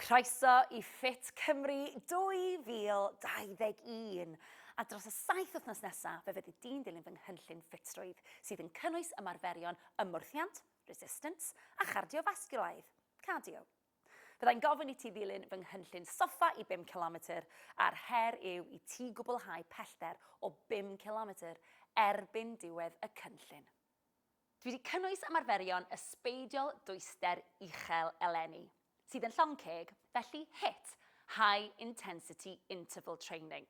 Croeso i Fit Cymru 2021! A dros y saith wythnos nesaf, fe fyddi di'n dilyn fy nghynllun ffitrwydd, sydd yn cynnwys ymarferion ymwrthiant, resistance, a chardiofasgiwlaidd, cardio. Fyddai'n gofyn i ti ddilyn fy nghynllun soffa i 5 cilometr, a'r her yw i ti gwblhau pellter o 5 cilometr erbyn diwedd y cynllun. Dwi 'di cynnwys ymarferion ysbeidiol dwyster uchel eleni, sydd yn llong ceg, felly HIIT, High Intensity Interval Training.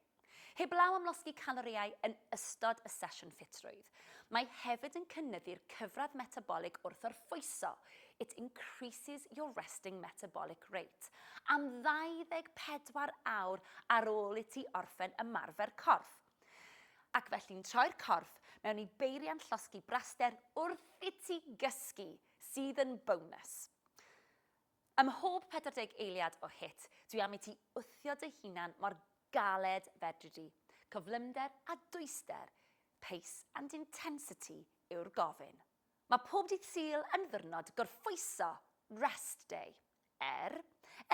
Heblaw am losgi calorïau yn ystod y sesiwn ffitrwydd, mae hefyd yn cynyddu'r cyfradd metabolig wrth orffwyso, it increases your resting metabolic rate, am 24 awr ar ôl i ti orffen ymarfer corff. Ac felly'n troi'r corff mewn i beiriant llosgi braster wrth i ti gysgu, sydd yn bonus. Ym mhob 40 eiliad o hit, dwi am i ti wthio dy hunan mor galed fedri di. Cyflymder a dwyster, pace and intensity yw'r gofyn. Mae pob dydd Sul yn ddwrnod gorffwyso, rest day. Er,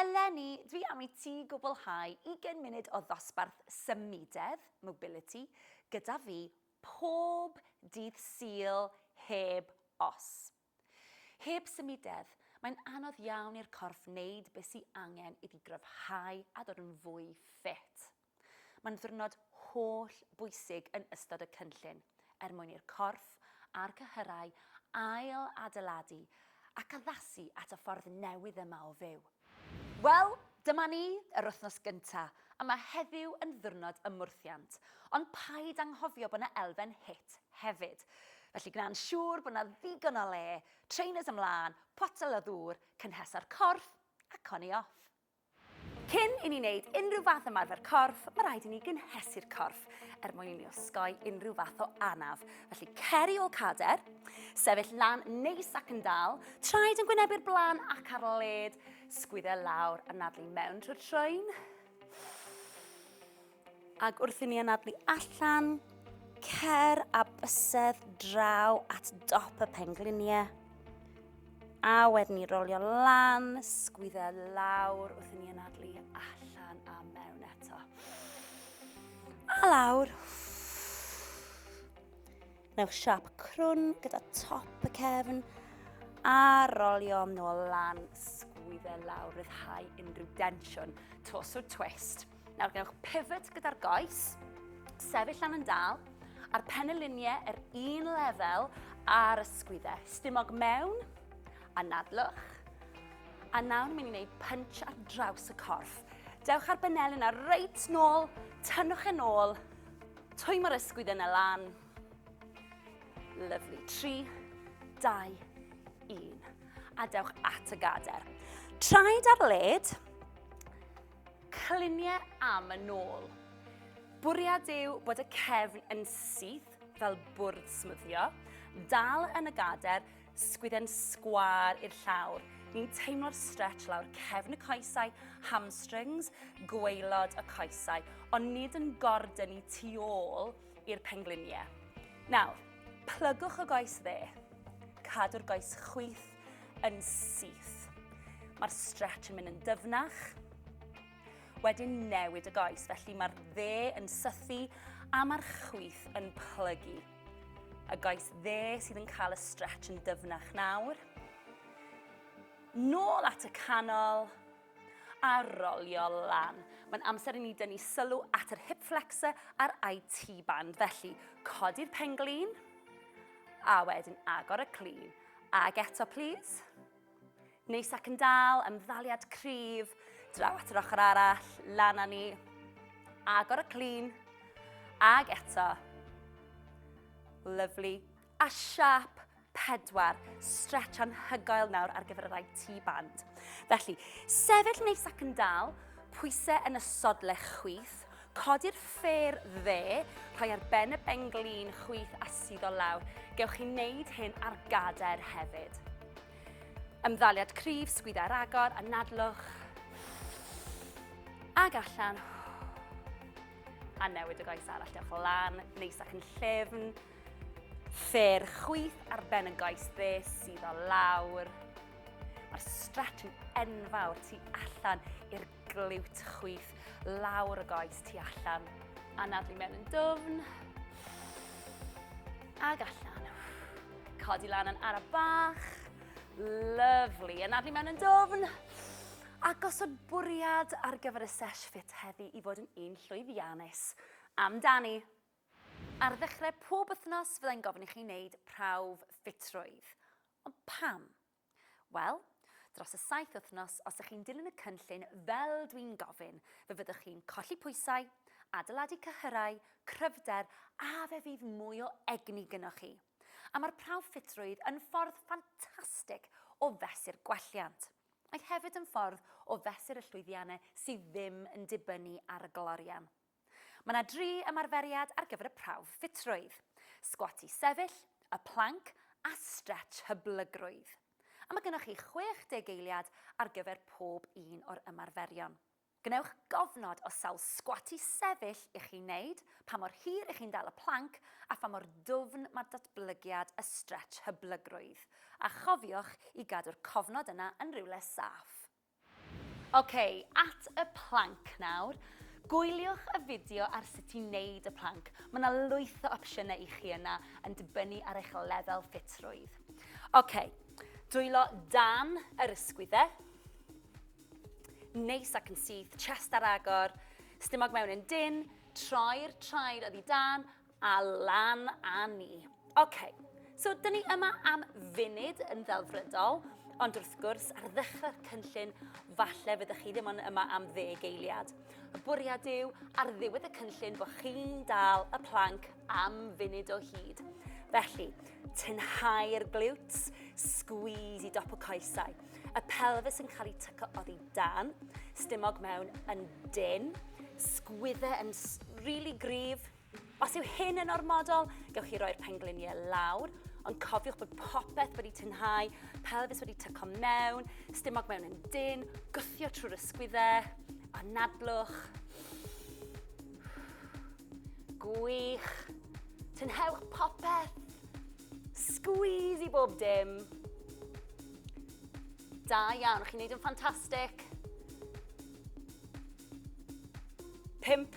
eleni, dwi am i ti gwblhau ugain munud o ddosbarth symudedd, mobility, gyda fi pob dydd Sul heb os. Heb symudedd, mae'n anodd iawn i'r corff wneud be sy angen iddi gryfhau a dod yn fwy ffit. Mae'n ddiwrnod holl bwysig yn ystod y cynllun er mwyn i'r corff a'r cyhyrau ail adeiladu ac addasu at y ffordd newydd yma o fyw. Wel, dyma ni, yr wythnos gynta', a mae heddiw yn ddiwrnod ymwrthiant, ond paid anghofio bod 'na elfen hit hefyd. Felly gwna'n siŵr bod 'na ddigon o le, trainers ymlân, potel o ddŵr, cynhesa'r corff, ac on i off. Cyn i ni wneud unrhyw fath ymarfer corff, mae rhaid i ni gynhesu'r corff er mwyn i ni osgoi unrhyw fath o anaf. Felly cer i ôl cader, sefyll lan neis ac yn dal, traed yn gwynebu'r blaen ac ar led, sgwydde lawr a nadlu mewn trwy'r troen. Ac wrth i ni anadlu allan, cer a bysedd draw at dop y pengliniau. A wedyn ni rolio lan, sgwydde lawr wrth i ni anadlu allan a mewn eto. A lawr. Newch siap crwn gyda top y cefn a rolio nôl lan, sgwydde lawr, rhyddhau unrhyw densiwn, tos o twist. Nawr gwnewch pivot gyda'r goes, sefyll lan yn dal, a'r penyluniau yr un lefel a'r ysgwyddau. Stumog mewn, a nadlwch. A nawr ni'n mynd i wneud punch ar draws y corff. Dewch ar benel yna, reit nôl, tynnwch yn e ôl, twy mae'r ysgwydd yna lan. Lovely. 3, 2, 1. A dewch at y gader. Traed ar led, Clunie am y nôl. Bwriad yw bod y cefn yn syth fel bwrdd smwddio, dal yn y gader, sgwydden sgwar i'r llawr. Ni'n teimlo'r stretch lawr cefn y coesau, hamstrings, gweilod y coesau, ond nid yn gordyn i tu ôl i'r pengliniau. Nawr, plygwch y goes dde. Cadw'r goes chwith yn syth. Mae'r stretch yn mynd yn dyfnach. Wedyn newid y goes, felly mae'r dde yn sythu a mae'r chwyth yn plygu. Y goes dde sydd yn cael y stretch yn dyfnach nawr. Nôl at y canol a rolio lan. Mae'n amser i ni dynnu sylw at yr hip flexor a'r IT band. Felly, codi'r penglin a wedyn agor y clean. Ag eto, please. Neis ac yn dal, ymddaliad cryf, draw at yr ochr arall, lan â ni. Agor y clean. Ag eto. Lovely. A siap pedwar, stretch anhygoel nawr ar gyfer y rai tu band. Felly, sefyll neis ac yn dal, pwysau yn y sodle chwith, Codi'r ffêr dde, rhoi ar ben y benglin chwith a suddo lawr. Gewch chi wneud hyn ar gader hefyd. Ymddaliad cryf, sgwydda ar agor, anadlwch. Ag allan. A newid y goes arall, dewch lan, neis ac yn llefn. Ffêr chwith ar ben y goes dde, suddo lawr. Mae'r stretch yn enfawr tu allan i'r Glywt chwith lawr y goes tu allan. Anadlu mewn yn dwfn. Ag allan. Codi lan yn ara bach. Lyflu. Anadlu mewn yn dwfn. A gosod bwriad ar gyfer y sesh ffit heddi i fod yn un llwyddiannus. Amdani! Ar ddechrau pob wythnos fyddai'n gofyn i chi wneud prawf ffitrwydd. Ond pam? Wel, dros y saith wythnos, os ych chi'n dilyn y cynllun fel dwi'n gofyn, fe fyddwch chi'n colli pwysau, adeiladu cyhyrau, cryfder a fe fydd mwy o egni gynoch chi. A mae'r prawf ffitrwydd yn ffordd ffantastig o fesur gwelliant. Mae hefyd yn ffordd o fesur y llwyddiannau sydd ddim yn dibynnu ar y glorian. Mae yna dri ymarferiad ar gyfer y prawf ffitrwydd, sgwat i sefyll, y planc a strets hyblygrwydd. A mae gennych chi 60 eiliad ar gyfer pob un o'r ymarferion. Gwnewch gofnod o sawl sgwat i sefyll i chi wneud, pa mor hir i chi'n dal y planc a pha mor dwfn mae datblygiad y strets hyblygrwydd. A chofiwch i gadw'r cofnod yna yn rywle saff. Ok, at y plank nawr. Gwyliwch y fideo ar sut i wneud y plank. Mae yna lwyth o opsiynau i chi yna yn dibynnu ar eich lefel ffitrwydd. Ok, dwylo dan yr ysgwyddau. Neis ac yn syth, chest ar agor, stumog mewn yn dyn, troi'r traed oddi dan A lan a ni. OK, so dyn ni yma am funud yn ddelfrydol, ond wrth gwrs, ar ddechrau'r cynllun, falle fyddwch chi ddim ond yma am ddeg eiliad. Y bwriad yw, ar ddiwedd y cynllun, bod chi'n dal y planc am funud o hyd. Felly, tynhau'r glutes, squeeze i dop y coesau. Y pelvis yn cael ei tyco oddi dan, stumog mewn yn dyn, sgwydde yn really gryf, Os yw hyn yn ormodol, gewch chi roi'r pengliniau lawr, ond cofiwch bod popeth wedi tynhau, pelfis wedi tyco mewn, stumog mewn yn dyn, gwthio trwy'r ysgwyddau, anadlwch. Gwych. Tynhewch popeth. Squeeze i bob dim. Da iawn, chi'n neud yn ffantastig. 5,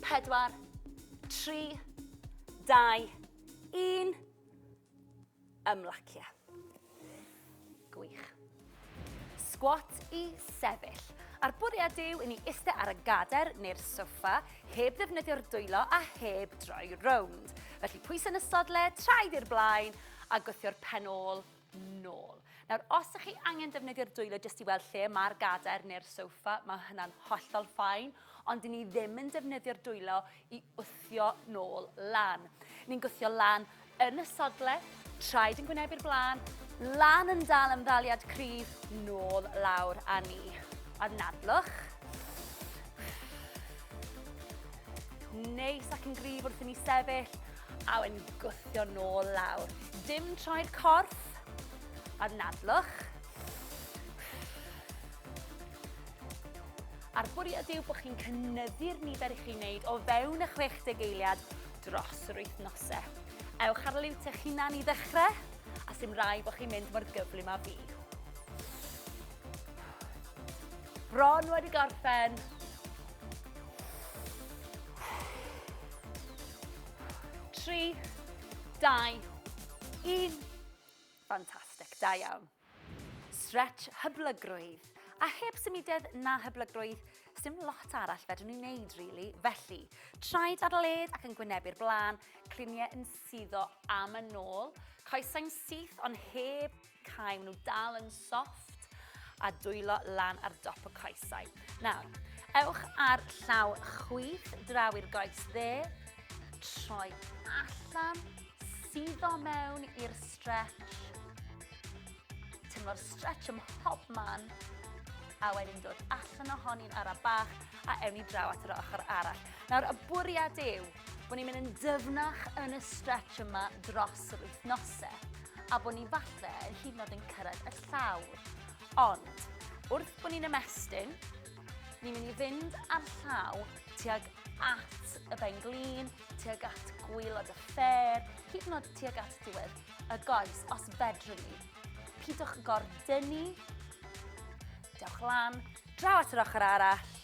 4, 3, 2, 1. Ymlacio. Gwych. Squat i sefyll. A'r bwriad yw i ni eistedd ar y gader neu'r soffa, heb ddefnyddio'r dwylo a heb droi rownd. Felly pwys yn y sodle, traed i'r blaen a gwthio'r pen ôl nôl. Nawr, os ydych chi angen defnyddio'r dwylo jyst i weld lle mae'r gadair neu'r sofa, mae hynna'n hollol ffain, ond i ni ddim yn defnyddio'r dwylo i wthio nôl lan. Ni'n gwthio lan yn y sodle, traed yn gwynebu'r blaen, lan yn dal am ddaliad cryf, nôl lawr a ni. A nadlwch. Neis ac yn gryf wrth i ni sefyll, A wedyn gwthio nôl lawr. Dim troed corff, a'r nadlwch. A'r bwriad yw bod chi'n cynnyddu'r nifer i chi'n wneud o fewn y 60 eiliad dros yr wythnosau. Ewch ar liwt eich hunan i ddechrau, a sy'n rai bod chi'n mynd mor gyflym a fi. Bron wedi gorffen. 3, 2, 1. Fantastic, da iawn. Stretch hyblygrwydd. A heb symudedd na hyblygrwydd, sdim lot arall fedrwn ni wneud, really. Felly, traed ar led ac yn gwynebu'r blaen, cliniau yn suddo am y nôl, coesau'n syth ond heb Cau, maen nhw dal yn soft a dwylo lan ar dop y coesau. Nawr, ewch ar llaw chwith draw i'r goes dde, troi allan, suddo mewn i'r stretch, tymlo'r stretch ym mhob man, a wedyn dod allan ohoni'n ara bach a ewn ni draw at yr ochr arall. Nawr, y bwriad yw Bod ni'n mynd yn dyfnach yn y stretch yma dros yr wythnosau a bod ni falle yn hyd yn oed yn cyrraedd y llawr. Ond, wrth bod ni'n ymestyn, ni'n mynd i fynd ar llaw tuag at y ben glin, tuag at gwylod y ffer, hyd yn oed tuag at diwedd y goes, os fedrwn ni. Pidwch gordynnu, Dewch lan, draw at yr ochr arall.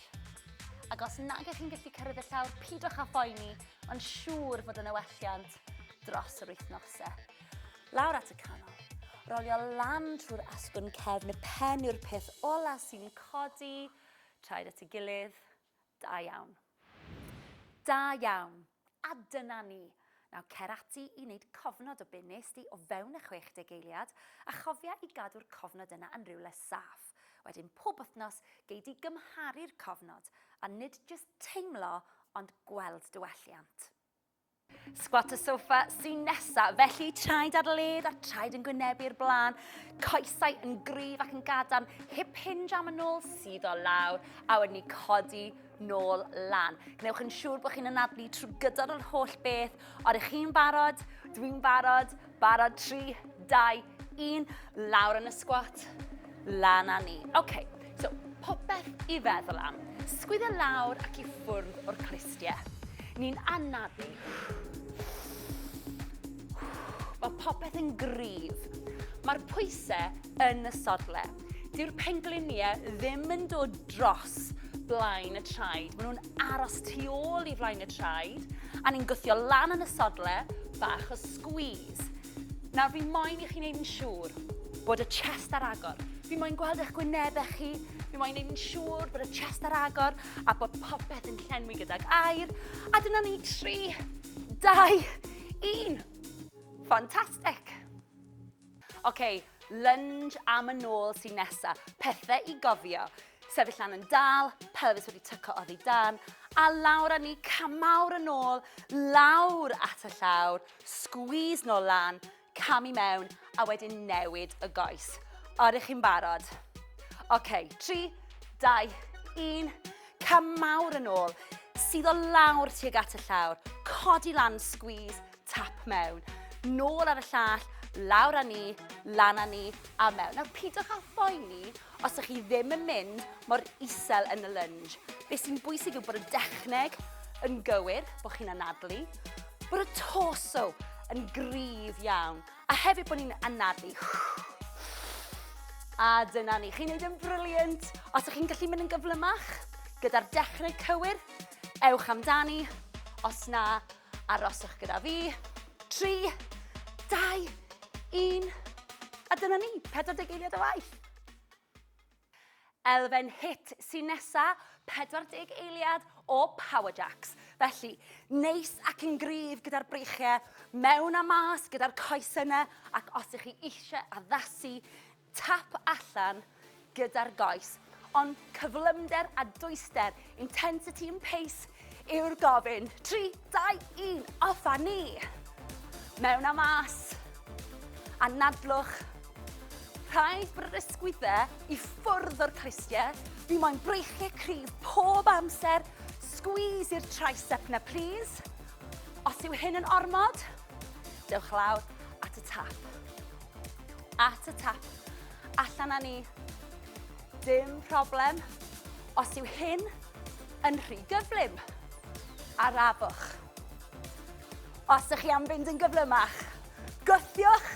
Ac os nag ych chi'n gallu cyrraedd y llawr, pidwch â phoeni, ond siŵr fod yn ewelliant dros yr wythnosau. Lawr at y canol. Rolio lan trwy'r asgwrn cefn, y pen yw'r peth ola sy'n codi, traed at y gilydd, Da iawn. Da iawn. A dyna ni. Nawr cer ati i wneud cofnod o be wnest ti o fewn y 60 eiliad, a chofia i gadw'r cofnod yna yn rywle saff. Wedyn pob wythnos gei di gymharu'r cofnod, a nid jyst teimlo ond gweld dy welliant. Squat y sofa sy'n nesa, felly traed ar led a traed yn gwynebu'r blaen, coesau yn gryf ac yn gadarn, hip hinge am y nôl sydd o lawr, a wedyn ni codi nôl lan. Gwnewch yn siŵr bod chi'n anadlu trwy gydol yr holl beth, ond ych chi'n barod, dwi'n barod, Barod, 3, 2, 1, lawr yn y sgwat, lan a ni. Oce, okay, so popeth i feddwl am. Sgwydda lawr ac i ffwrdd o'r cristiau. Ni'n anafu. Mae popeth yn gryf. Mae'r pwysau yn y sodle. Dyw'r pengliniau ddim yn dod dros blaen y traed. Maen nhw'n aros tu ôl i flaen y traed a ni'n gwthio lan yn y sodle bach o squeeze. Nawr fi moyn i chi'n neud yn siŵr bod y chest ar agor. Fi moyn gweld eich gwynebau chi, fi moyn neud yn siŵr bod y chest ar agor a bod popeth yn llenwi gydag air. A dyna ni, 3, 2, 1. Fantastic! Oce, lunge am y nôl sy'n nesa. Pethe i gofio. Sefyll lan yn dal, pelfis wedi tyco oddi dan, a lawr a ni camawr yn ôl, lawr at y llawr, squeeze nôl lan, cam i mewn, a wedyn newid y goes. Oeddech chi'n barod? Oce, 3, 2, 1, camawr yn ôl, sydd o lawr tuag at y llawr, codi lan, squeeze, Tap mewn, nôl ar y llall, lawr â ni, lan â ni a mewn. Nawr pidwch â phoeni os ydych chi ddim yn mynd mor isel yn y lunge. Be sy'n bwysig yw bod y dechneg yn gywir, bod chi'n anadlu, bod y torso yn gryf iawn, a hefyd bod ni'n anadlu. A dyna ni, chi'n neud yn briliant. Os ydych chi'n gallu mynd yn gyflymach, gyda'r dechrau cywir, ewch amdani. Os na, Aroswch gyda fi. 3, 2, 1. A dyna ni, 40 eiliad o waith. Elfen hit sy'n nesa, 40 eiliad o Power Jacks. Felly, neis ac yn gryf gyda'r breichiau, mewn a mas gyda'r coes yna, ac os ych chi eisiau addasu tap allan gyda'r goes, ond cyflymder a dwyster, intensity and pace, yw'r gofyn. 3, 2, 1, off a ni! Mewn a mas. Anadlwch. Rhaid brysgwydde i ffwrdd o'r clustiau. Fi moyn breichiau cryf pob amser. Squeeze i'r tricep na plîs. Os yw hyn yn ormod, dewch lawr at y tap. At y tap. Allan â ni. Dim problem. Os yw hyn yn rhy gyflym, arafwch. Os ydych chi am fynd yn gyflymach, gwthiwch.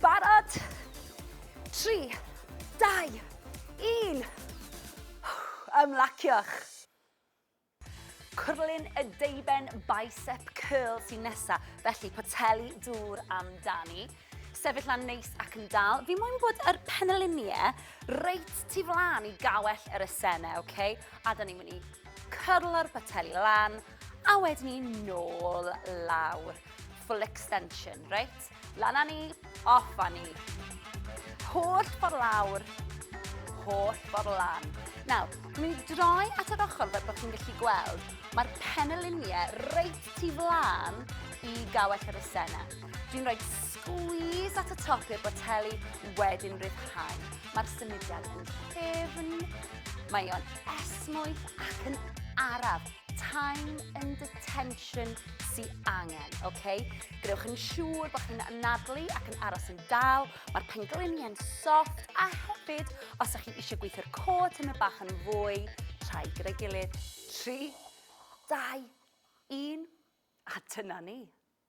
Barod. 3, 2, 1. Ymlaciwch. Curlin y deuben bicep curl sy'n nesa, felly poteli dŵr amdani. Sefyll lan neis ac yn dal. Fi moyn bod yr penelinie reit tu flan i gawell yr esene, oce? Okay? A da ni'n mynd i curlo'r poteli lan, a wedyn ni nôl lawr. Full extension, reit? Lan â ni, off â ni. Holl ffordd lawr, holl ffordd lan. Nawr, dwi'n mynd i droi at yr ochr fel bod chi'n gallu gweld, mae'r peneliniau reit tu flan i gawell yr ysena. Dwi'n rhoi squeeze at y top i'r boteli wedyn rhyddhau. Mae'r symudiad yn ffefn, mae o'n esmwyth ac yn araf. time and attention sy angen, oce? Okay? Gwnewch yn siŵr bod chi'n anadlu ac yn aros yn dal, mae'r pengliniau'n soft, a hefyd, os ydych chi eisiau gweithio'r cod yn y bach yn fwy, rhai gyda'i gilydd, 3, 2, 1, a dyna ni.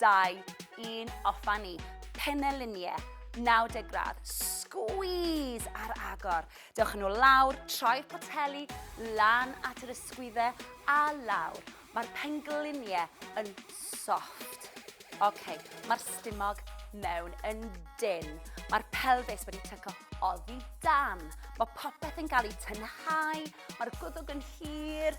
2, 1, off a ni. Peneliniau, 90 gradd, squeeze ar agor. Dewch yn ôl lawr, troi'r poteli lan at yr ysgwyddau a lawr. Mae'r pengliniau yn soft. OK, mae'r stumog mewn yn dyn. Mae'r pelfis wedi tyco oddi dan. Mae popeth yn cael ei tynhau, mae'r gwddwg yn hir,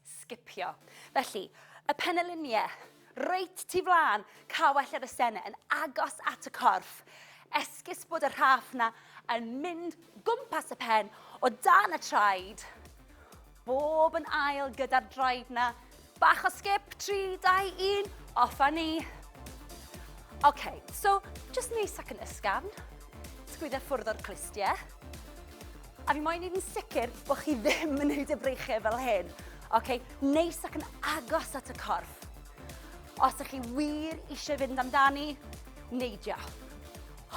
sgipio. Felly, y peneliniau, reit tu flaen, cawell ar y sene, yn agos at y corff. Esgus bod y rhaff na yn mynd gwmpas y pen o dan y traed. Bob yn ail gyda'r draed na. Bach o sgip, 3, 2, 1, off a ni. OK, so, just neis ac yn ysgafn. Sgwydda ffwrdd o'r clustiau. A fi moyn neud yn sicr bo' chi ddim yn neud y breichie fel hyn. Oce, neis ac yn agos at y corff. Os ych chi wir eisiau fynd amdani, neidio.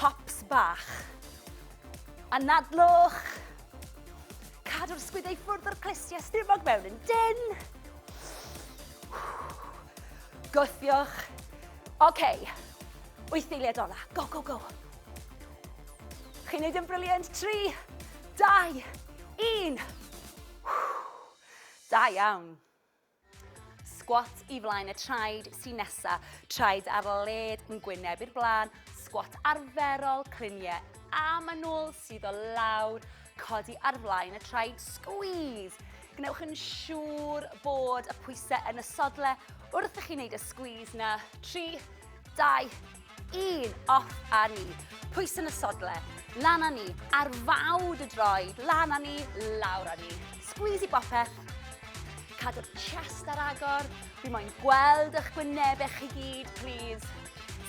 Hops bach. Anadlwch. Cadw'r sgwydau ffwrdd o'r clustiau stumog mewn yn dyn. Gwthiwch. Oce, wyth eiliad ola. Go, go, go. Chi'n neud yn brilliant, tri, dau, un. Da iawn. Squat i flaen y traed sy'n nesa, traed ar led yn gwyneb i'r blaen, squat arferol, cliniau a manwl sydd o lawr, codi ar flaen y traed, squeeze. Gwnewch yn siŵr bod y pwysau yn y sodle wrth i chi wneud y squeeze na. 3, 2, Un, off a ni. Pwys yn y sodle. Lan a ni. Ar fawd y droed. Lan a ni, lawr a ni. Squeeze i bopeth. Cadw'r chest ar agor. Fi moyn gweld eich gwynebau chi gyd, please.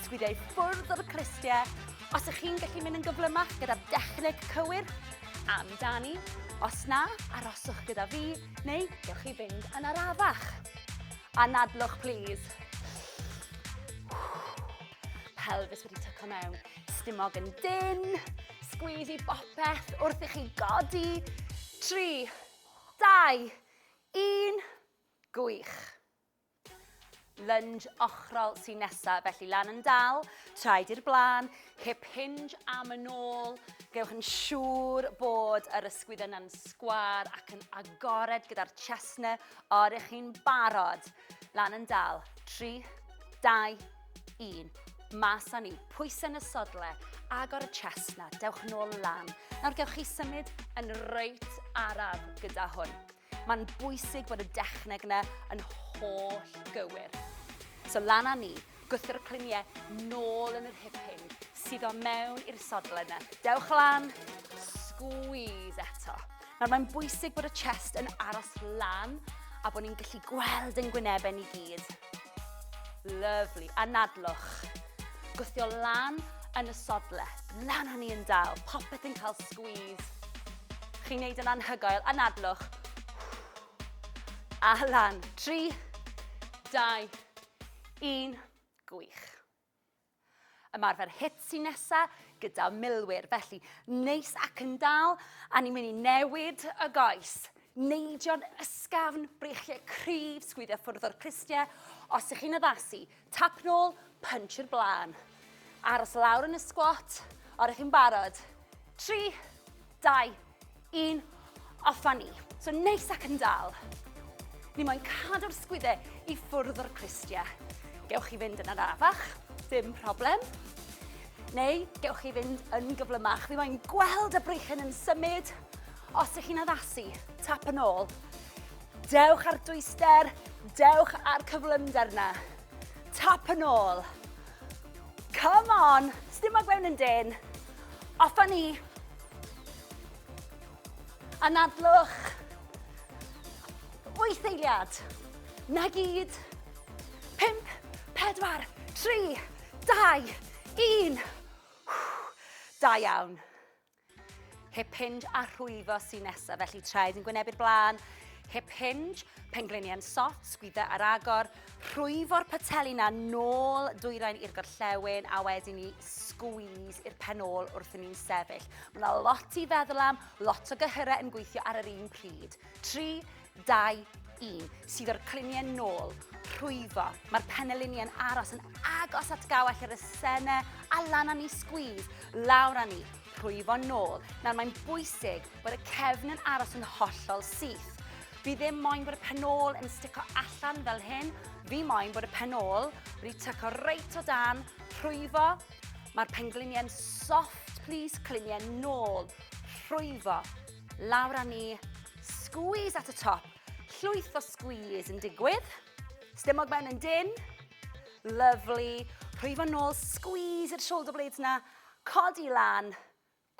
Sgwidiau ffwrdd o'r cristiau. Os ych chi'n gallu mynd yn gyflymach gyda'r dechneg cywir, amdani. Os na, aroswch gyda fi, neu gewch chi fynd yn arafach. Anadlwch plîs. Pelfis wedi tyco mewn. Stumog yn dyn. Sgwyd i bopeth wrth i chi godi. 3, 2, 1. Gwych. Lunge ochrol sy'n nesaf, felly lan yn dal, traed i'r blaen, hip hinge am yn ôl. Gewch yn siŵr bod yr ysgwydd yna'n sgwar ac yn agored gyda'r chestnut O, ydych chi'n barod? Lan yn dal. 3, 2, 1. Mas â ni. Pwysau yn y sodle. Agor y chest na. Dewch yn ôl lan. Nawr gewch chi symud yn reit araf gyda hwn. Mae'n bwysig bod y dechneg yna yn holl gywir. So lan â ni. Gwthio'r clunie nôl yn yr hip hyn, suddo mewn i'r sodle yna. Dewch lan, squeeze eto. Nawr mae'n bwysig bod y chest yn aros lan a bod ni'n gallu gweld yn gwynebau ni gyd. Lovely. Anadlwch. Gwthio lan yn y sodle. Lan o'n ni yn dal. Popeth yn cael squeeze. Chi'n neud yn anhygoel. Anadlwch. A lan. Tri, dau, Yn gwych. Ymarfer hit sy'n nesa gyda milwyr, felly neis ac yn dal, a ni'n mynd i newid y goes. Neidio'n ysgafn, brechiau cryf, sgwyddio ffwrdd o'r clustiau. Os ych chi'n addasu, tap nôl, punch i'r blaen. Aros lawr yn y squat, o'r ych chi'n barod. 3, 2, 1, off a ni. So neis ac yn dal. Ni moyn cadw'r sgwydde i ffwrdd o'r cristia. Gewch chi fynd yn arafach, dim problem. Neu gewch chi fynd yn gyflymach. Fi moyn gweld y breichen yn symud. Os ych chi'n addasu, tap yn ôl. Dewch ar dwyster, dewch ar cyflymder na. Tap yn ôl. Come on. Sdim ag mewn yn dyn. Off a ni. Anadlwch. Wyth eiliad. Na gyd. Pimp, pedwar, tri, dau, un. Da iawn. Hip hinge a rhwyfo sy'n nesaf, felly traed yn gwynebu'r blaen, hip hinge, pengliniau'n sot, sgwydda ar agor, rhwyfo'r pateli na nôl dwyrain i'r gorllewin a wedyn ni sgwys i'r pen ôl wrth i ni'n sefyll. Mae yna lot i feddwl am, lot o gyhyrau yn gweithio ar yr un pryd. 3, 2, 1, sydd o'r cliniau nôl, rhwyfo. Mae'r penelini yn aros yn agos at gawell yr esene a lan â ni sgwyd, lawr â ni, rhwyfo nôl. Nawr mae'n bwysig bod y cefn yn aros yn hollol syth. Fi ddim moyn bod y penol yn stico allan fel hyn, fi moyn bod y penol wedi tyco reit o dan, rhwyfo. Mae'r pengliniau'n soft, please, cliniau nôl, rhwyfo. Lawr â ni. Squeeze at y top. Llwyth o squeeze yn digwydd. Stumog ben yn dyn. Lovely. Rhwyfo nôl, squeeze i'r shoulder blades na. Codi lan.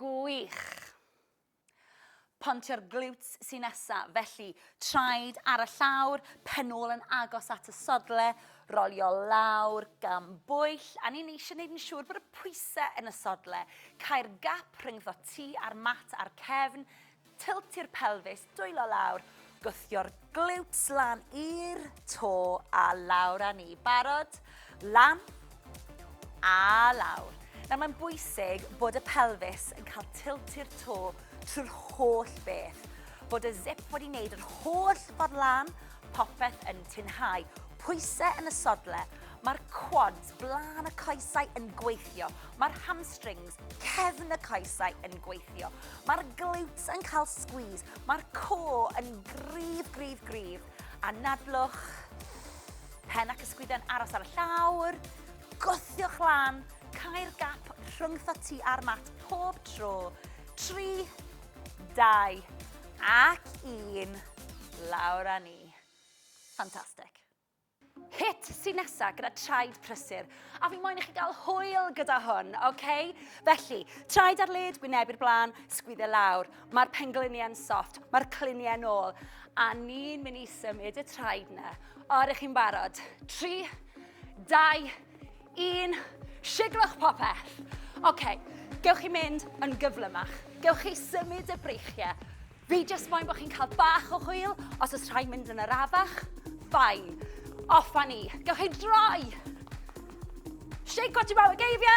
Gwych. Pontio'r glutes sy'n nesa, felly Traed ar y llawr, pen ôl yn agos at y sodle, rolio lawr, gan bwyll, a ni'n eisiau gwneud yn siŵr bod y pwysau yn y sodle. Cau'r gap rhyngddo ti a'r mat a'r cefn, tiltio'r pelfis, dwylo lawr, gwthio'r glutes lan i'r to a lawr â ni. Barod? Lan a lawr. Nawr mae'n bwysig bod y pelfis yn cael tilt i'r to trwy'r holl beth. Bod y zip wedi wneud yr holl ffordd lan, popeth yn tinhau. Pwysau yn y sodle, mae'r quads, blaen y coesau yn gweithio. Mae'r hamstrings, cefn y coesau yn gweithio. Mae'r glutes yn cael squeeze. Mae'r co yn grif, grif, grif. A nadlwch, Pen ac ysgwydden aros ar y llawr, gwthiwch lan, cael gap rhwngtho ti a'r mat pob tro. 3, 2 ac 1, lawr â ni. Ffantastig. Hit sy'n nesaf gyda traed prysur, a fi moyn i chi gael hwyl gyda hwn, oce? Okay? Felly, traed ar led, wyneb i'r blaen, sgwydde lawr. Mae'r pengliniau'n soft, mae'r cliniau'n ôl, a ni'n mynd i symud y traed na. O, ydych chi'n barod? 3, 2, 1, siglwch popeth. Oce, okay, gewch chi mynd yn gyflymach. Gewch chi symud y breichiau. Fi jyst moyn bod chi'n cael bach o hwyl, os oes rhaid mynd yn yr afach, ffain. Off a ni. Gewch chi droi. Shake what you're about, geifio.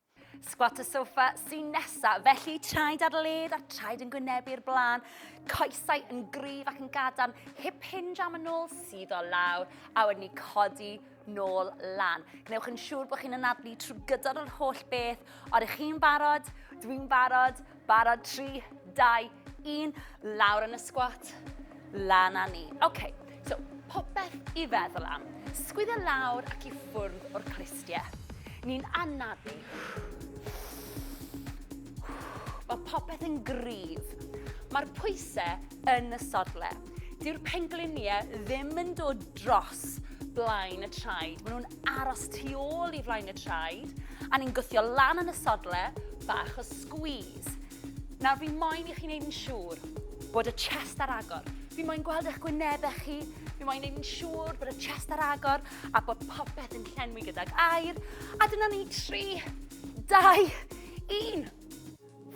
Squat y sofa sy'n nesa, felly traed ar led a'r traed yn gwynebu'r blaen, coesau yn gryf ac yn gadarn, hip hinge am y nôl sydd o lawr, a wedyn ni codi nôl lan. Gwnewch yn siŵr bod chi'n anadlu trwy gydol yr holl beth, ond ych chi'n barod, dwi'n barod, Barod, 3, 2, 1, lawr yn y sgwat, lan a ni. Oce, okay, so popeth i feddwl am. Sgwydda lawr ac i ffwrdd o'r cristiau. Ni'n anafu. Mae popeth yn gryf. Mae'r pwysau yn y sodle. Dyw'r pengliniau ddim yn dod dros blaen y traed. Maen nhw'n aros tu ôl i flaen y traed a ni'n gwthio lan yn y sodle bach o squeeze. Nawr fi moyn i chi'n neud yn siŵr bod y chest ar agor. Fi moyn gweld eich gwynebau chi. Fi moyn neud yn siŵr bod y chest ar agor a bod popeth yn llenwi gydag air. A dyna ni, 3, 2, 1.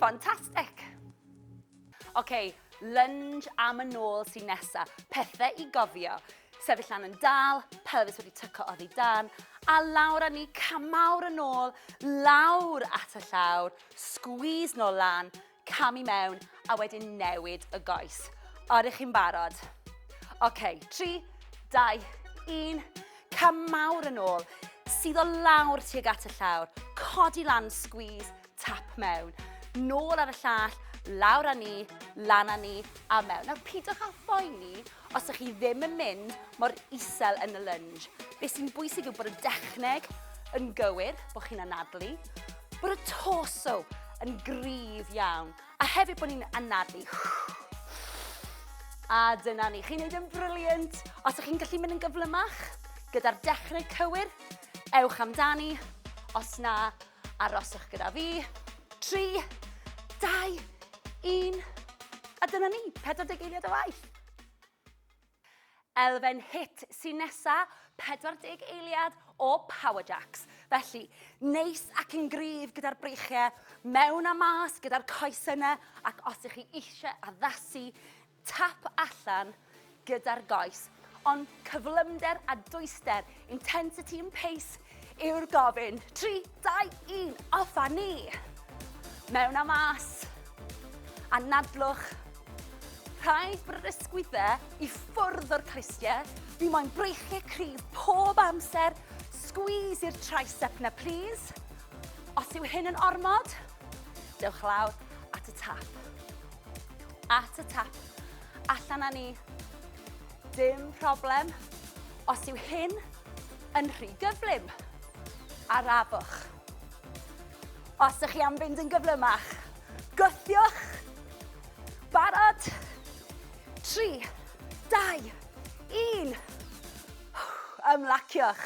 Fantastic. Ok, lunge am y nôl sy'n nesa. Pethe i gofio. Sefyll lan yn dal, pelfis wedi tyco oddi dan, a lawr a ni camawr yn ôl, lawr at y llawr, squeeze nôl lan, cam i mewn, a wedyn newid y goes. Oeddech chi'n barod? Ok, 3, 2, 1, camawr yn ôl, sydd o lawr tuag at y llawr, codi lan, squeeze, Tap mewn, nôl ar y llall, lawr â ni, lan â ni a mewn. Nawr pidwch â phoeni os ydych chi ddim yn mynd mor isel yn y lunge. Be sy'n bwysig yw bod y dechneg yn gywir, bod chi'n anadlu, bod y torso yn gryf iawn, a hefyd bod ni'n anadlu. A dyna ni, chi'n neud yn briliant. Os ydych chi'n gallu mynd yn gyflymach, gyda'r dechrau cywir, ewch amdani. Os na, Aroswch gyda fi. 3, 2, 1. A dyna ni, 40 eiliad o waith. Elfen hit sy'n nesa, 40 eiliad o Power Jacks. Felly, neis ac yn gryf gyda'r breichiau, mewn a mas gyda'r coes yna, ac os ych chi eisiau addasu tap allan gyda'r goes, ond cyflymder a dwyster, intensity and pace, yw'r gofyn. 3, 2, 1, off a ni! Mewn a mas. Anadlwch. Rhaid brysgwydde i ffwrdd o'r clustiau. Fi moyn breichiau cryf pob amser. Squeeze i'r tricep na plîs. Os yw hyn yn ormod, dewch lawr at y tap. At y tap. Allan â ni. Dim problem. Os yw hyn yn rhy gyflym, arafwch. Os ydych chi am fynd yn gyflymach, gwthiwch. Barod. 3, 2, 1. Ymlaciwch.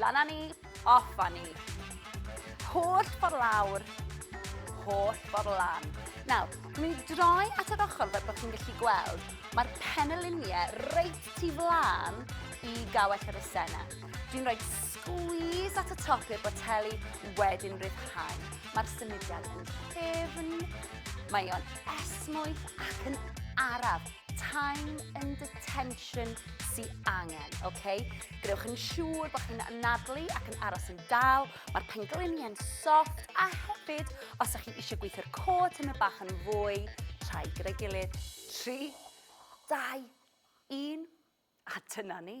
Lan â ni, off â ni. Holl ffordd lawr, holl ffordd lan. Nawr, mi droi at yr ochr fel bod chi'n gallu gweld, mae'r peneliniau reit tu flan i gawell yr esena. Dwi'n rhoi squeeze at y top i'r boteli wedyn rhyddhau. Mae'r symudiad yn ffefn, mae o'n esmwyth ac yn araf. time and detention sy angen, oce? Okay? Gwnewch yn siŵr bod chi'n anadlu ac yn aros yn dal, mae'r pengliniau'n soft a hefyd, os ydych chi eisiau gweithio'r cod yn y bach yn fwy, rhai gyda'i gilydd, 3, 2, 1, a dyna ni.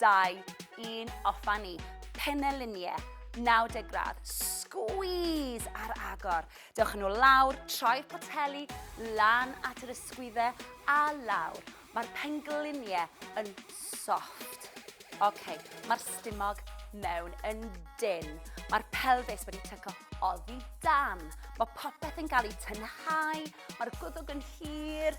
2, 1, off a ni. Peneliniau, 90 gradd, squeeze ar agor. Dewch yn ôl lawr, troi'r poteli lan at yr ysgwyddau a lawr. Mae'r pengliniau yn soft. OK, mae'r stumog mewn yn dyn. Mae'r pelfis wedi tyco oddi dan. Mae popeth yn cael ei tynhau, mae'r gwddwg yn hir,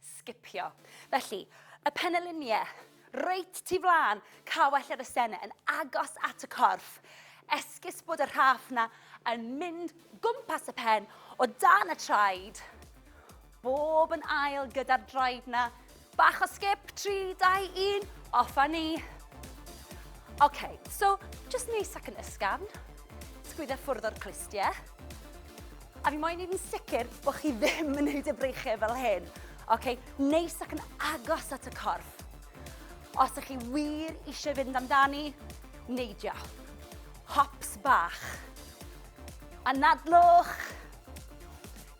sgipio. Felly, y peneliniau, reit tu flaen, cawell yr ysennau yn agos at y corff, esgus bod y rhaff na yn mynd gwmpas y pen o dan y traed, bob yn ail gyda'r draed na, bach o sgip, 3, 2, 1, off a ni. OK, so, just neis ac yn ysgafn, sgwydda ffwrdd o'r clustiau, A fi moyn neud yn sicr bo' chi ddim yn neud y breichie fel hyn. Oce, neis ac yn agos at y corff. Os ych chi wir eisiau fynd amdani, neidio. Hops bach. Anadlwch.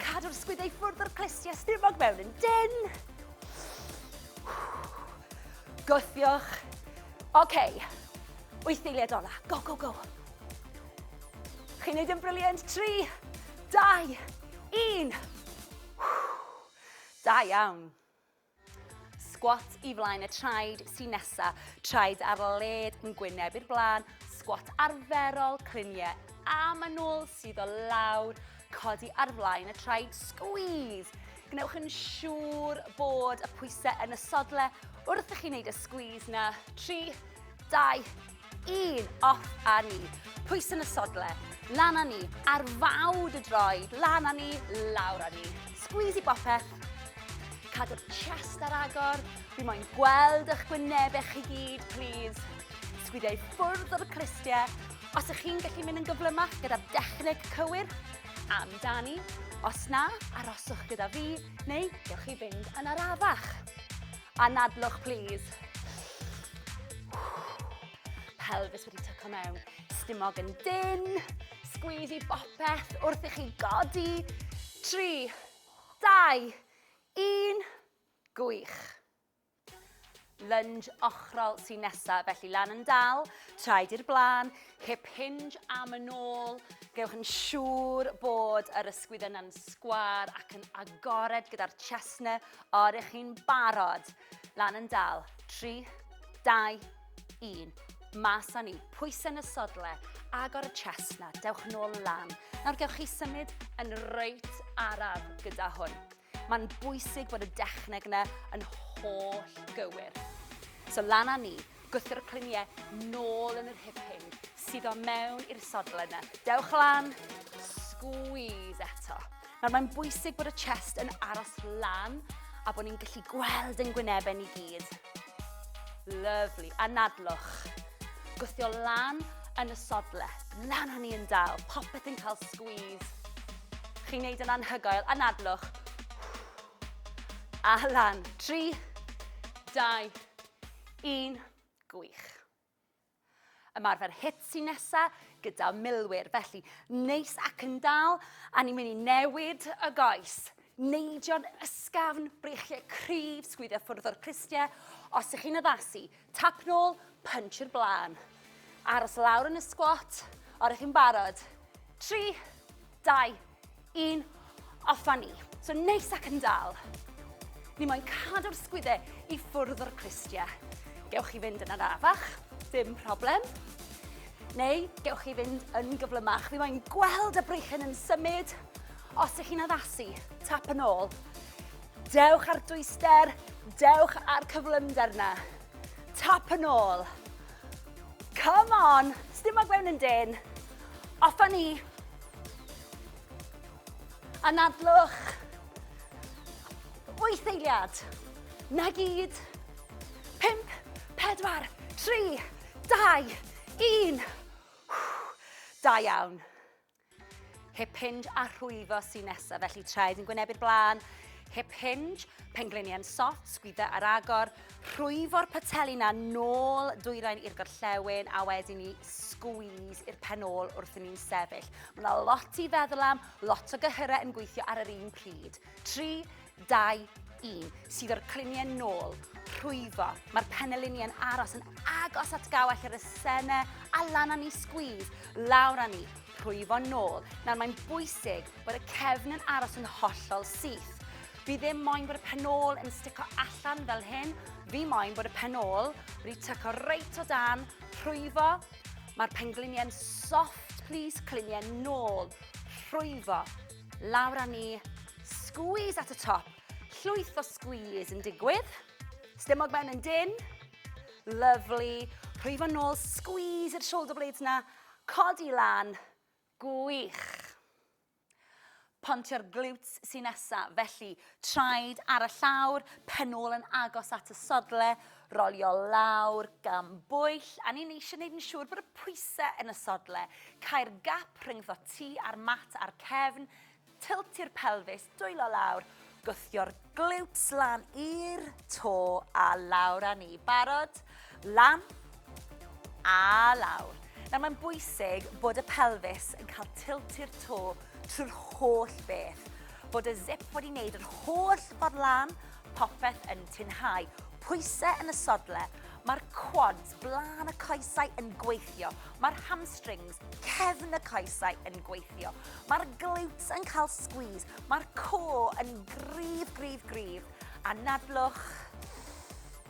Cadw'r sgwydau ffwrdd o'r clustiau stumog mewn yn dyn. Gwthiwch. Oce, wyth eiliad ola. Go, go, go. Chi'n neud yn brilliant. Tri, dau, un. Da iawn. Squat i flaen y traed sy'n nesa. Traed ar led yn gwyneb i'r blaen. Squat arferol, cliniau am yn ôl, sydd o lawr, codi ar flaen y traed, squeeze. Gwnewch yn siŵr bod y pwysau yn y sodle wrth i chi wneud y squeeze na. Tri, dau, Un, off a ni. Pwys yn y sodle, lan a ni. Ar fawd y droed, lan a ni, lawr a ni. Squeeze i bopeth. Cadw'r chest ar agor. Fi moyn gweld eich gwynebau chi gyd, please. Sgwidiau ffwrdd o'r cristiau. Os ych chi'n gallu mynd yn gyflymach gyda'r dechneg cywir, amdani. Os na, aroswch gyda fi, neu gewch chi fynd yn arafach. Anadlwch plîs. Pelfis wedi tyco mewn. Stumog yn dyn. Sgwyd i bopeth wrth i chi godi. 3, 2, 1. Gwych. Lunge ochrol sy'n nesaf, felly lan yn dal, traed i'r blaen, hip hinge am yn ôl. Gewch yn siŵr bod yr ysgwydd yna'n sgwar ac yn agored gyda'r chestnut O, ydych chi'n barod? Lan yn dal. 3, 2, 1. Mas â ni. Pwysau yn y sodle. Agor y chest na. Dewch yn ôl lan. Nawr gewch chi symud yn reit araf gyda hwn. Mae'n bwysig bod y dechneg yna yn holl gywir. So lan â ni. Gwthio'r clunie nôl yn yr hip hyn, suddo mewn i'r sodle yna. Dewch lan, squeeze eto. Nawr mae'n bwysig bod y chest yn aros lan a bod ni'n gallu gweld yn gwynebau ni gyd. Lovely. Anadlwch. Gwthio lan yn y sodle. Lan o'n ni yn dal. Popeth yn cael squeeze. Chi'n neud yn anhygoel. Anadlwch. A lan. Tri, dau, Yn gwych. Ymarfer hit sy'n nesa gyda milwyr, felly neis ac yn dal, a ni'n mynd i newid y goes. Neidio'n ysgafn, brechiau cryf, sgwyddio ffwrdd o'r cristiau. Os ych chi'n addasu, tap nôl, punch i'r blaen. Aros lawr yn y sgwat, o'r ych chi'n barod. Tri, dau, un, off a ni. So neis ac yn dal. Ni moyn cadw'r sgwydde i ffwrdd o'r clustia. Gewch chi fynd yn arafach, dim problem. Neu gewch chi fynd yn gyflymach. Fi moyn gweld y breichen yn symud. Os ydych chi'n addasu, tap yn ôl. Dewch ar dwyster, dewch ar cyflymder na. Tap yn ôl. Come on. Sdim ag mewn yn dyn. Off a ni. Anadlwch. Wyth eiliad. Na gyd. Pimp, pedwar, tri, dau, un. Da iawn. Hip hinge a rhwyfo sy'n nesaf, felly traed yn gwynebu'r blaen, hip hinge, pengliniau'n sot, sgwydda ar agor, rhwyfo'r pateli na nôl dwyrain i'r gorllewin a wedyn ni sgwys i'r pen ôl wrth i ni'n sefyll. Mae yna lot i feddwl am, lot o gyhyrau yn gweithio ar yr un pryd. 3, 2, 1, sydd o'r cliniau nôl, rhwyfo. Mae'r penelini yn aros yn agos at gawell yr esene a lan â ni sgwyd, lawr â ni, rhwyfo nôl. Nawr mae'n bwysig bod y cefn yn aros yn hollol syth. Fi ddim moyn bod y penol yn stico allan fel hyn. Fi moyn bod y penol wedi tyco reit o dan, rhwyfo. Mae'r pengliniau'n soft, please, cliniau nôl, rhwyfo. Lawr â ni. Squeeze at y top. Llwyth o squeeze yn digwydd. Stumog mewn yn dyn. Lovely. Rhwy fo'n nôl, squeeze i'r shoulder blades na. Codi lan. Gwych. Pontio'r glutes sy'n nesa, felly traed ar y llawr, pen ôl yn agos at y sodle, rolio lawr, gan bwyll, a ni'n eisiau gwneud yn siŵr bod y pwysau yn y sodle, cau'r gap rhyngddo ti a'r mat a'r cefn, tiltio'r pelfis, dwylo lawr, gwthio'r glutes lan i'r to a lawr â ni. Barod? Lan a lawr. Nawr mae'n bwysig bod y pelfis yn cael tilt i'r to trwy'r holl beth. Bod y zip wedi wneud yr holl ffordd lan, popeth yn tinhau. Pwysau yn y sodle, mae'r quads, blaen y coesau yn gweithio. Mae'r hamstrings, cefn y coesau yn gweithio. Mae'r glutes yn cael squeeze. Mae'r co yn grif, grif, grif. A nadlwch,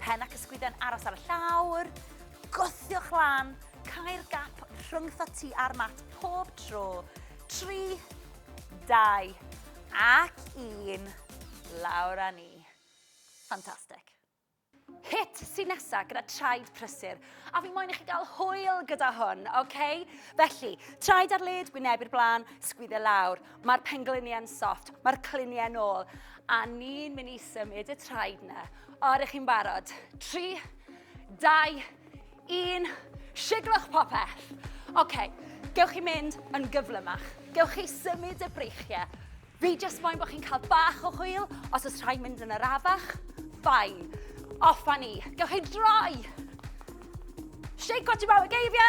Pen ac ysgwydden aros ar y llawr, gwthiwch lan, cael gap rhwngtho ti a'r mat pob tro. 3, 2 ac 1, lawr â ni. Ffantastig. Hit sy'n nesaf gyda traed prysur, a fi moyn i chi gael hwyl gyda hwn, oce? Okay? Felly, traed ar led, wyneb i'r blaen, sgwydde lawr. Mae'r pengliniau'n soft, mae'r cliniau'n ôl, a ni'n mynd i symud y traed na. O, ydych chi'n barod? 3, 2, 1, siglwch popeth. Oce, okay, gewch chi mynd yn gyflymach. Gewch chi symud y breichiau. Fi jyst moyn bod chi'n cael bach o hwyl, os oes rhaid mynd yn yr afach, ffain. Off a ni. Gewch chi droi. Shake what you're about, geifio.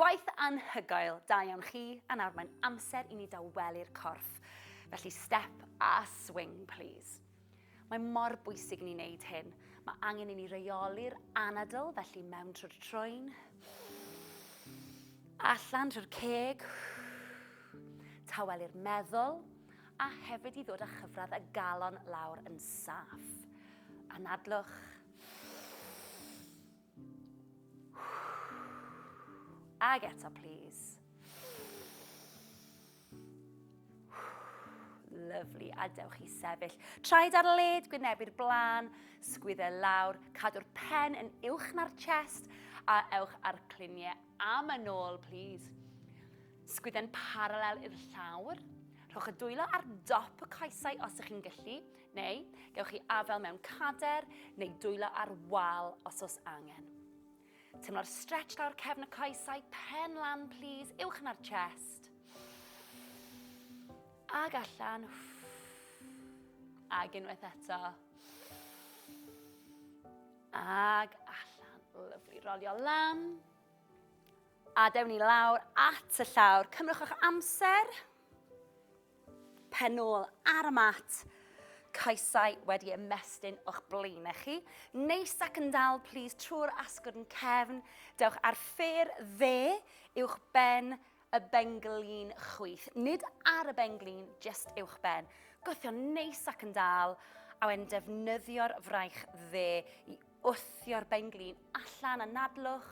Gwaith anhygoel, da iawn chi, a nawr mae'n amser i ni dawelu'r corff. Felly step a swing, please. Mae mor bwysig i ni wneud hyn. Mae angen i ni reoli'r anadl, felly mewn trwy'r troen. Allan trwy'r ceg. Tawelu'r meddwl, a hefyd i ddod â chyfradd y galon lawr yn saff. Anadlwch. Ag eto, please. Lovely, a dewch i sefyll. Traed ar led, gwyneb i'r blaen, sgwydde lawr, cadw'r pen yn uwch na'r chest, a ewch ar cluniau am y nôl, please. Sgwydde'n paralel i'r llawr. Rhowch y dwylo ar dop y coesau os ych chi'n gallu. Neu, gewch chi afael mewn cader neu dwylo ar wal os oes angen. Tymlo'r stretch lawr cefn y coesau, pen lan plîs, uwch na'r chest. Ag allan. Ag unwaith eto. Ag allan. Lyflu, rolio lan. A dewn ni lawr at y llawr. Cymrwch o'ch amser. Pen ôl ar y mat, coesau wedi ymestyn o'ch blaenau chi. Neis ac yn dal, plis, trwy'r asgwrn cefn. Dewch ar ffêr dde uwch ben y benglin chwith. Nid ar y benglin, just uwch ben. Gothio neis ac yn dal, a wedyn defnyddio'r fraich dde i wthio'r benglin allan a nadlwch.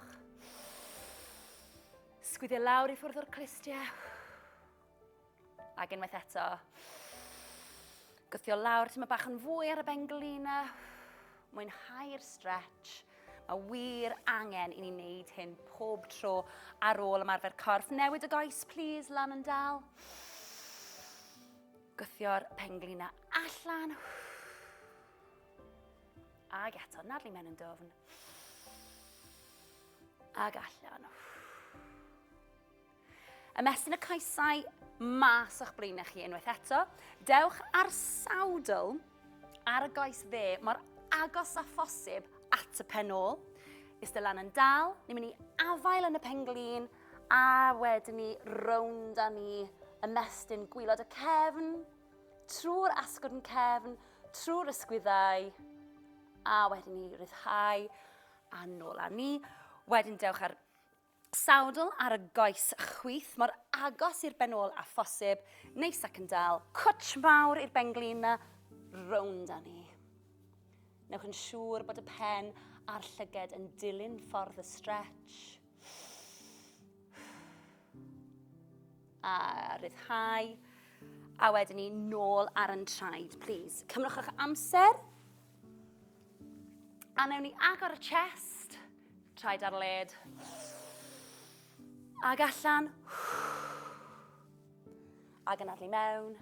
Sgwyddio lawr i ffwrdd o'r clustiau. Ac unwaith eto. Gwthio lawr, ti'n bach yn fwy ar y benglina. Mwynhau'r stretch. Mae wir angen i ni wneud hyn pob tro ar ôl ymarfer corff. Newid y goes, please, lan yn dal. Gwthio'r penglina allan. Ag eto, nadlu mewn yn dofn. Ag allan. Ymestyn y coesau mas o'ch blaenau chi unwaith eto. Dewch ar sawdl ar y goes dde mor agos a phosib at y pen ôl. Ystel lan yn dal, ni'n mynd i afael yn y penglin a wedyn ni rownd a ni ymestyn gwylod y cefn, trwy'r asgwrn yn cefn, trwy'r ysgwyddau a wedyn ni ryddhau a nôl a ni. Wedyn dewch ar Sowdl ar y goes chwith, mor agos i'r ben ôl â phosib, neis ac yn dal. Cwtsh mawr i'r benglin 'na, rownd â ni. Newch yn siŵr bod y pen a'r llyged yn dilyn ffordd y stretch. A rhyddhau. A wedyn ni nôl ar yn traed, please. Cymrwch eich amser. A newn ni agor y chest, traed ar led. Ag allan. Ag yn adlu mewn.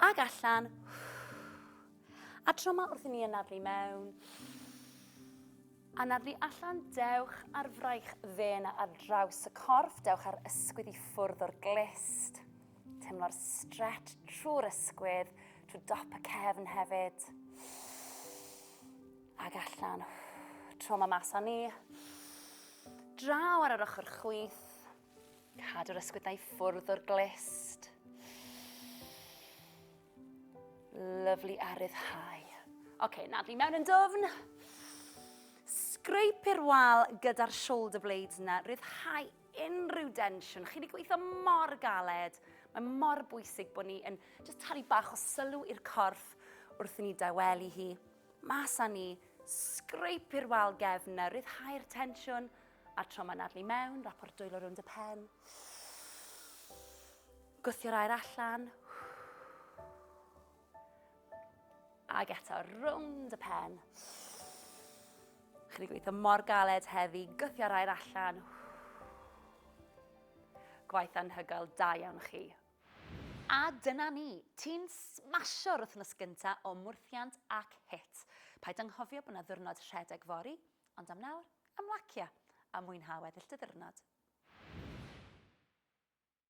Ag allan. A tro yma wrth i ni anadlu mewn. Anadlu allan, dewch ar fraich ddyn ar draws y corff, dewch ar ysgwydd i ffwrdd o'r glist. Teimlo'r stretch trwy'r ysgwydd, trwy dop y cefn hefyd. Ac allan. Tro ma mas ni. Draw ar yr ochr chwith. Cadw'r ysgwyddau ffwrdd o'r glist. Lyflu a ryddhau. Oce, okay, nad fi mewn yn dwfn. Scrape i'r wal gyda'r shoulder blades na, ryddhau unrhyw densiwn. Chi wedi gweithio mor galed. Mae mor bwysig bod ni yn just talu bach o sylw i'r corff wrth i ni dawelu hi. Mas â ni, sgreip i'r wal gefn na ryddhau'r tensiwn a'r trauma nadlu mewn, rapor dwylo rownd y pen. Gwthio'r air allan. Ac eto, rownd y pen. Chi wedi gweithio mor galed heddi, gythio rhaid allan. Gwaith anhygoel, da iawn chi. A dyna ni, ti'n smasio'r wythnos gynta o mwrthiant ac hit. Paid anghofio bod na ddwrnod rhedeg fori, ond am nawr, ymlacia a mwynha weddill dy ddiwrnod.